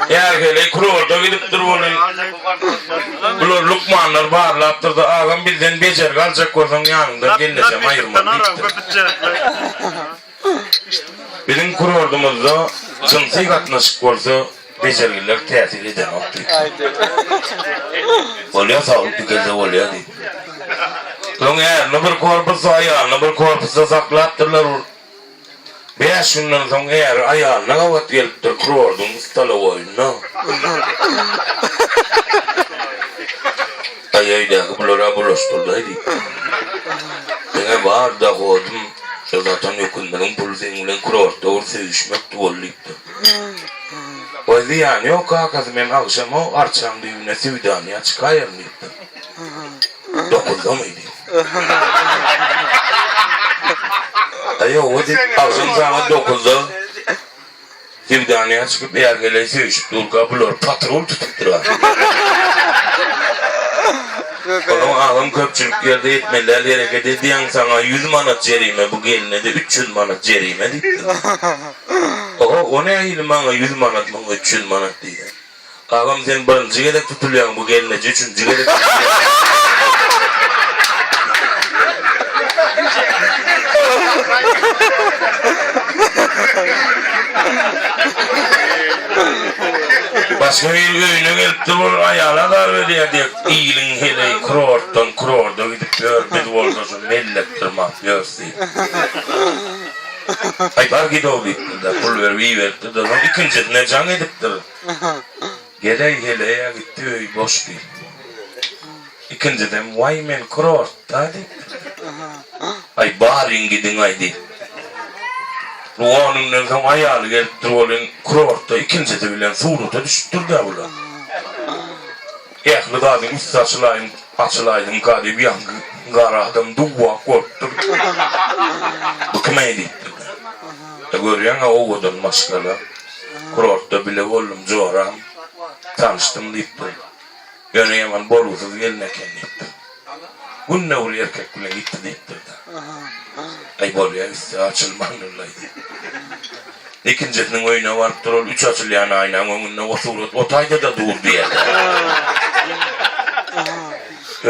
Häli-hili kroda gidipdir weli. Bular lukmanlar barlapdyr-da, Agam, bizden bejergi aljak bolsaň, ýanyňdan gelnejem aýyrman diýipdir. Biziň krodumyzda jynsy gatnaşyk bolsa, bejergiler täsir edenok diýipdir. Bolýa, saglyk dikelse bolýa diýip. Soň ärine bir korpusda, aýalyna bir korpusda saklapdyrlar. Bäş günden soň äri aýalyna gabat gelipdir kurordyň stalowoýynda. Aý, öýdäki bular-a bulaşdyrdaý diýip. Meň-ä bar dohodym şo satan öküzleriň puly seň bilen kurortda bir söýüşmekdi bol diýipdir. Waý, zyýany ýok kakasy, men agşam-ow arçaň düýbüne söwdanyýa çykaýaryn diýipdir. Dokundyň indi. Aýa o diýip agzym saňa dokunsa Sevdanýa çykyp ýargeleý söýşüp durka bular patrul tutup durar. Onuň agzym köpçülik ýerde etmeläl hereket edýäň saňa ýüz manat jerime bu gelnede üç ýüz manat jerime diýipdir. Oho o nähili maňa ýüz manat muňa üç ýüz manat diýýä. Agam sen birinji gezek tutulýaň bu gelneje üçünji gezek tutulýaň. Başga biri öýüne gelipdir ol aýaly azar berýär diýip iliň heleýi kurortdan kurorda gidip ýör biz bolsa şu mellek dyrmap ýörs diýip. Aýbar gidow diýipdir-de, pul berip iberipdir-de, soň ikinjisine jaň edipdir. Geleý, heleý-ä gitdi, öý boş diýipdir. Ikinjisem, Waý, men kurortda diýipdir. Aý, baryň gidiň-aý diýip. Lug on günden soň aýaly gelipdir welin, kurortda ikinjisi bilen surata düşüpdir-dä bular. Ähli zadyň üsti açylaýyn açylaýyn galyp ýaňky gara adam duwwak bolup durdy bu kim eý diýip durdy görýäňä owadan maşgala kurortda bile boldum joram tanyşdym diýip durdy ýöne ýaman bolgusyz gelin eken diýip durdy. Günde ol erkek bilen ýiti diýipdir-de. Aý, bolýa, üsti açylman ulaýdy. Ikinjisiniň öýüne barypdyr, ol üç açylýan aýnaň öňünde o surat otaýda-da dur diýerdi.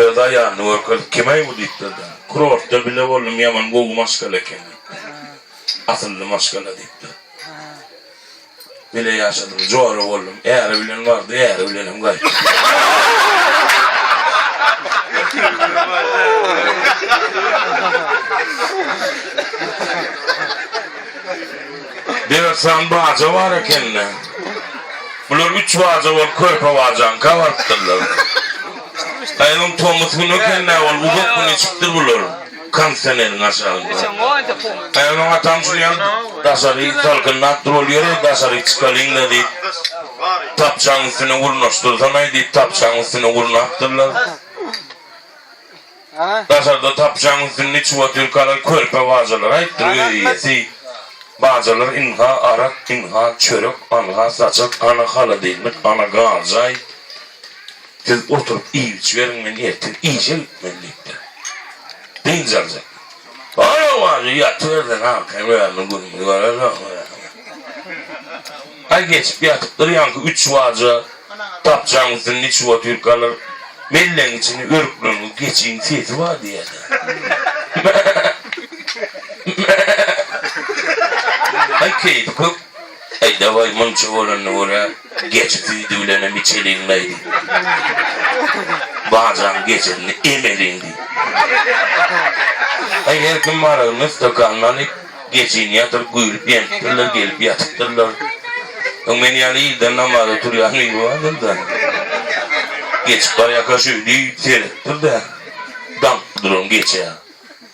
Öz aýalyny görkezip, Kim-eý bu? diýipdir-de. Kurortda bile boldum, ýaman gowy maşgala eken diýipdir. Asylly maşgala diýipdir. Bile ýaşadym, jora boldum. Äri bilen bardy, äri bilenem gaýtdy. Dörtsan baja bar ekeni. Bular üç baja bolup körpe bajaňka barypdyrlar. Aýalyň tomus güni ekeni, ol uzak gün içipdir bular. Kondisioneriň aşagynda. Gaýgy maňa tamşyrýan, daşary salkynlapdy bolýar-aý, daşary çykalyň-da diýip, tapçanyň üstüne gurnaşdyrsan-aý diýip, tapçanyň üstüne gurnapdyrlar. Daşarda tapçanyň üstünde içip oturyp galan körpe bajalara aýtdyr öý eýesi, Bajalar ynha arak, ynha çörek, anha saçak, ana halodilnik, ana garjaý. Siz oturyp iýip-içiberiň, men ertir işe gitmeli, diýipdir. Dynç aljak. Ol-a wajy ýatybersin, akşam ýarynyň gününi görersiň. Aý geçip ýatypdyr, ýaňky üç waja dapjaň üstünde içip otyrkalar, mellegiň içinde örükleňňi geçiň sesi bar diýýärler. Mä-mä-mä! Aý keýpi kök. Äý, daway, munça bolanda görä, geçi süýdi bilenem içeliň-laý, diý. Bajaň geçisini emeliň, diý. Äý, her kim aragyny stakanyna alyp, geçini ýatyryp güýlüp-ýenipdirler, gelip ýatypdyrlar. Öň men ýaly ilden namaza turýan biri bardyr-da, geçip barýarka şeýdip seretdir-de, daňyp duran geçä.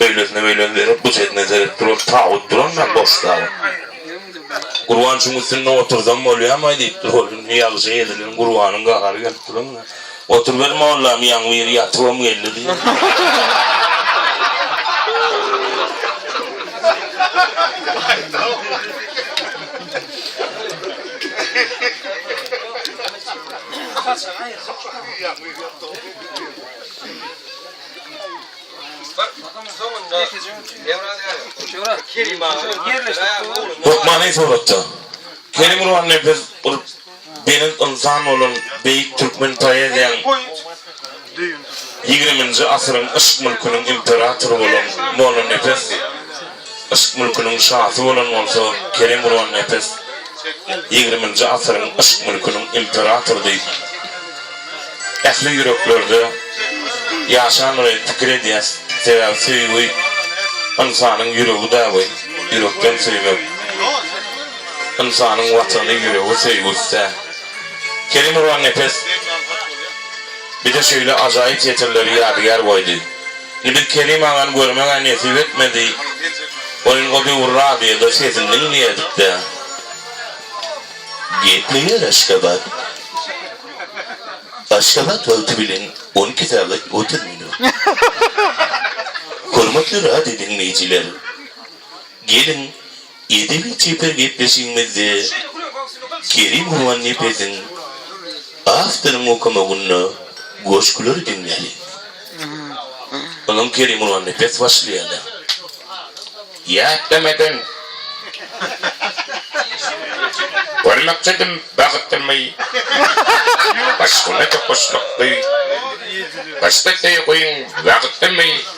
Öýlesine beýleki berip, bu çetine serip duran tabyt durandan boş tabyt. Gurban şuň üstünde otursam bolýarmaý diýipdir ol. Indi ýagşa ezilen Gurbanyň gahary gelip duranda, Oturyber mollam, ýaňybir ýatybam geldi diýipdir. Hökmany suratda. Kerim Gurban nepes bir belent ynsan bolan beýik türkmen poeziýaň ýigriminji asyryň yşk mülküniň imperatory bolan Mollanepes. Yşk mülküniň şasy bolan bolsa Kerem Gurannepes ýigriminji asyryň yşk mülküniň imperatory diýip ähli ýüreklerde ýaşan we pikir edýäs sebäbi söýgi ynsanyň ýüregi däbi ýürekden söýmek ynsanyň watany ýüregi söýgüsdä Kerem Gurannepes. Bize şeýle ajaýyp setirleri ýadygär goýdy. Indi biz Kerim agany görmeg-ä nesip etmedi. Welin o döwür radioda sesini diňleýärdik-dä. Gepleýär Aşgabat. Aşgabat wagty bilen on iki sagat otuz minut. Hormatly radio diňleýjiler! Geliň, Edebi çeper gepleşigimizde Kerim Gurbannepeziň Awtoryň okamagynda goşgulary diňläliň. Onuň Kerim Gurbannepes başlaýarda. Ýatlamazdan Bir maksadym bagtdymy Başgana tokaşmakdy Başga söýgiň wagtymy.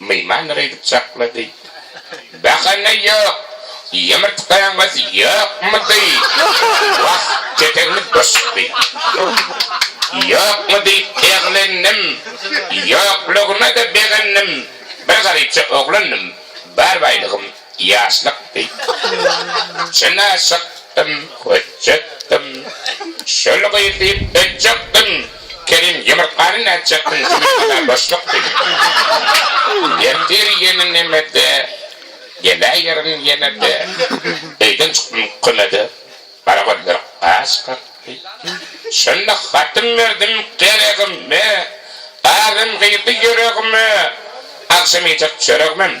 Myhman gydyp çaklady. Bahana ýok. Ýumurtgaňyz ýokmudy? Wah, ketegimiz boşukdy. Ýokmy diýip eglendim. Ýoklugyna-da begendim. Bir garypja oglandym. Bar baýlygym Ýaşlykdy. Çynaşykdym, hötjetdim. Şol gyz diýip ötjekdim. Kerim, ýumurtgany nätjekdiň, jumurtgada boşluk diýdi. Ertir ýene nemede, geläýerin ýene-de. Öýden çykdym kümede, gara gözler gaş kakdy. Şonda hatym berdim geregime, azem girdi ýüregime. Agşam iýjek çöregimem,